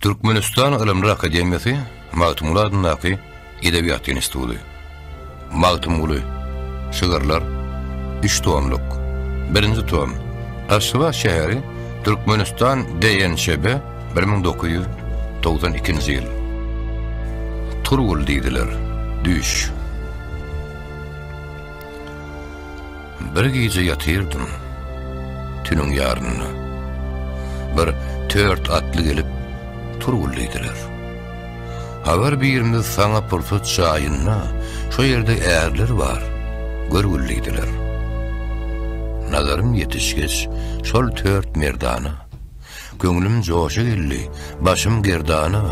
Türkmenistan Ylymlar akademiýasy Magtymguly adyndaky Edebiýat instituty. Magtymguly. Şygyrlar. Üç tomluk. Birinji tom. Aşgabat şäheri Türkmenistan DNÇB 1992-nji ýyl. Turgul diýdiler. Düýş. Bir gije ýatyrdym. Tünüň ýarynda. Bir tört atly gelip turguldylar. Habar birimiz saňa pursat jaýynda, şo ýerde ärler bar, görgüldiler. Nazarym ýetişgeç, şol tört merdana. Köňlüm joşa geldi, başym gerdana,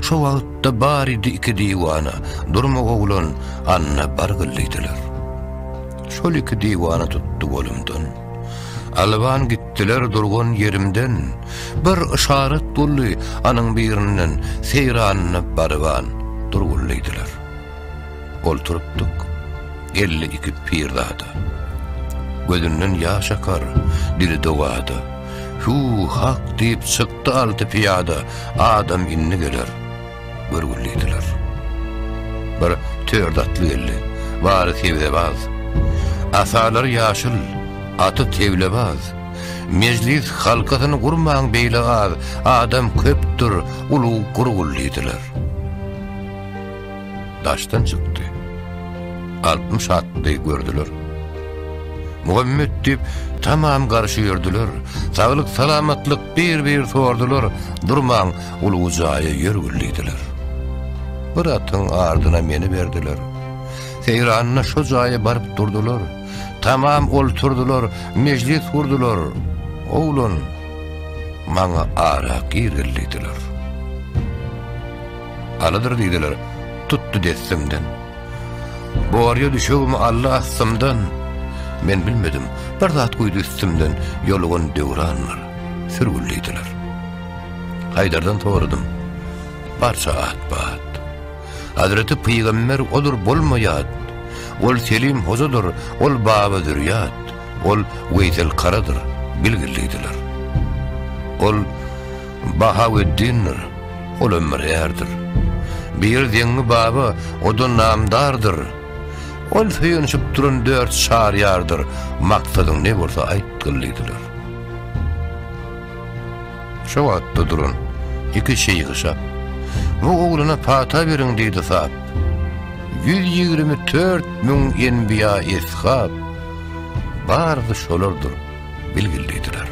Şo wagtda baridi iki diwana, Durma oglan, anna bargyl diýdiler. Şol iki diwana tutdy golumdan, Alwan gitdiler durgan ýerimden, Bir yşarat boldy anyň birinden, Seýranyna barybaan, durgul diýdiler. Olturypdyk, geldi iki pirzada. Gözünden ýaş akar, dili dogada. Hü, hak diýip çykdy alty pyýada, Adam indi geler, görgül diýdiler. Bir tört atly geldi, bary sebzebaz. Asalary ýaşyl, aty teglebaz. Mejlis halkasyny gurmaň beýle az, Adam köpdür, ulug gurgul diýdiler. daşdan çykdy. Altmyş atly gördüler. Muhammet diýip, tamam garşy ýördüler. Saglyk, salamatlyk bir-bir sordular. Durmaň, ulugy jaýa ýör güldiler. Bir atyň ardyna meni berdiler. Seýranyna şu jaýa baryp durdular. Tamam olturdular, mejlis gurdular. Oglan, maňa ara gir güldiler. Alydyr diýdiler, tutdy dessimden. Borýa düşegimi aldy astymdan, Men bilmedim, bir zat guýdy üstümden, Ýolugan döwranlar, sürgül diýdiler. Haýdardan soradym, barça at-bat. Hazreti pygamber odur bolmaýat, Ol Selim hojadyr, ol Baba Zürýat, Ol Weýsel karadyr, bilgil diýdiler. Ol Bahaweddindir, ol ömür ärdir. Bir deňňi baba, o-da namdardyr. Ol söýenişip duran dört çar ýardyr, Maksadyň ne bolsa aýtgyl diýdiler. Şo wagtda duran iki şeýhi şap, Bu oglana pata beriň diýdi sap. Ýüz ýigrimi tört müň enbiýa-eshap, Barysy şolardyr. bilgildidiler.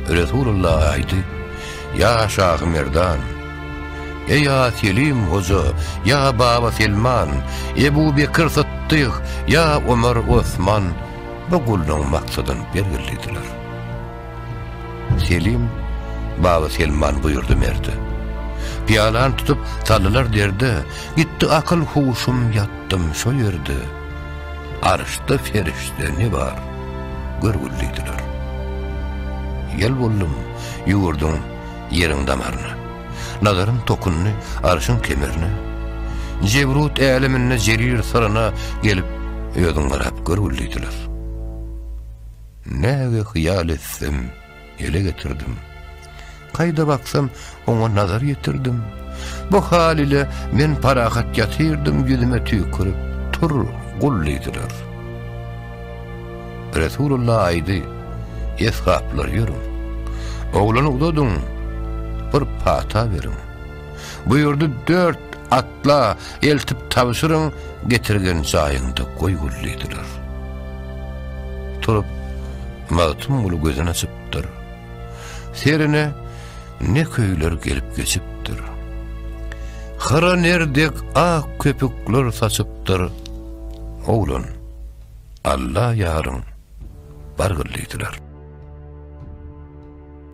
Resulullah aýdy, Ýa Şahy Merdan! Eý a Selim hoja, ýa Baba Selman, Ebu Bekir Sytdyk, ýa Omar Osman bu gullugyň maksadyny belgildidiler. Selim Baba Selman buýurdy merde. Pyýalany tutup, saldylar derde, Gitdi akyl-huşum ýatdym şo ýerde. Arşda perişde ne bar, görgüllidiler. Ýel boldum, ýüwürdüm ýeriň damaryna. Nazarym tokundy arşyň kemerine. Jebrut äleminde jerir syryna gelip, özüň garap görgüllidiler. Näge hyýal etsem, ele getirdim. Kaýda baksam, oňa nazar ýetirdim. Bu hal ile men parahat ýatyrdym, ýüzüme tüýkürip, tur, gul diýdiler. Resulullah aýdy, eshaplar ýörüň. Oglany uzadyň, bir pata beriň. Bu ýurdy dört atla eltip tabşyryň, getirgen jaýyňda goý gul diýdiler. Turup, Magtymguly gözün açypdyr. Serine ne köyler gelip geçipdir. Hyra nerdek ak köpükler saçypdyr. Oglan, Alla yaryn, bargyllydylar.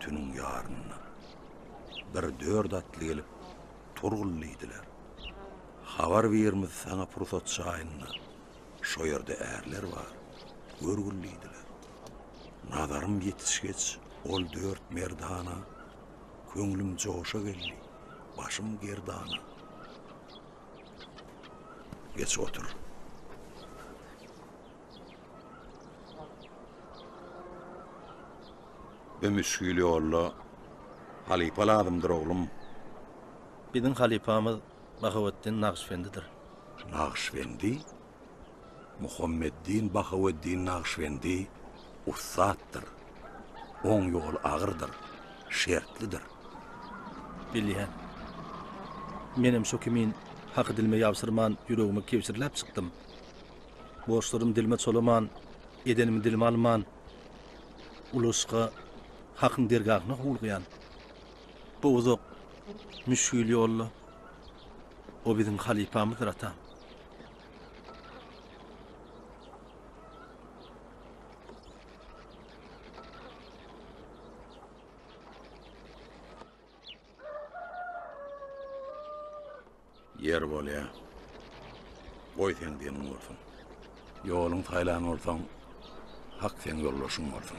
Tüniň ýarynda bir dört atly gelip Turgul diýdiler. Habar birimiz saňa pursat çaýynda şo ýerde ärler bar, görgül diýdiler. Nazarym ýetişgeç ol dört merdana köňlüm joşa geldi, başym gerdana. Geç otur. Bu müşgil ýolda halypa lazymdyr, oglum. Biziň halypamyz Bahaweddin Nagyşbendidir. Nagyşbendi? Muhammeddin Bahaweddin Nagyşbendi ussatdyr. Oň ýoly agyrdyr, şertlidir. Bilýän. Menem şo kimin haky dilime ýabsyrman, ýüregimi kebşirläp çykdym. Borçlarym dilime çolaman, edenimi dilime alman, ulaşyka Hakyň dergahyna howlugýan. Bu uzak, müşgil ýolda O biziň halypamyzdyr, atam. Ýer bolýa. Goý seň diniň bolsun. Ýoluň saýlan bolsaň, hak seň ýoldaşyň bolsun.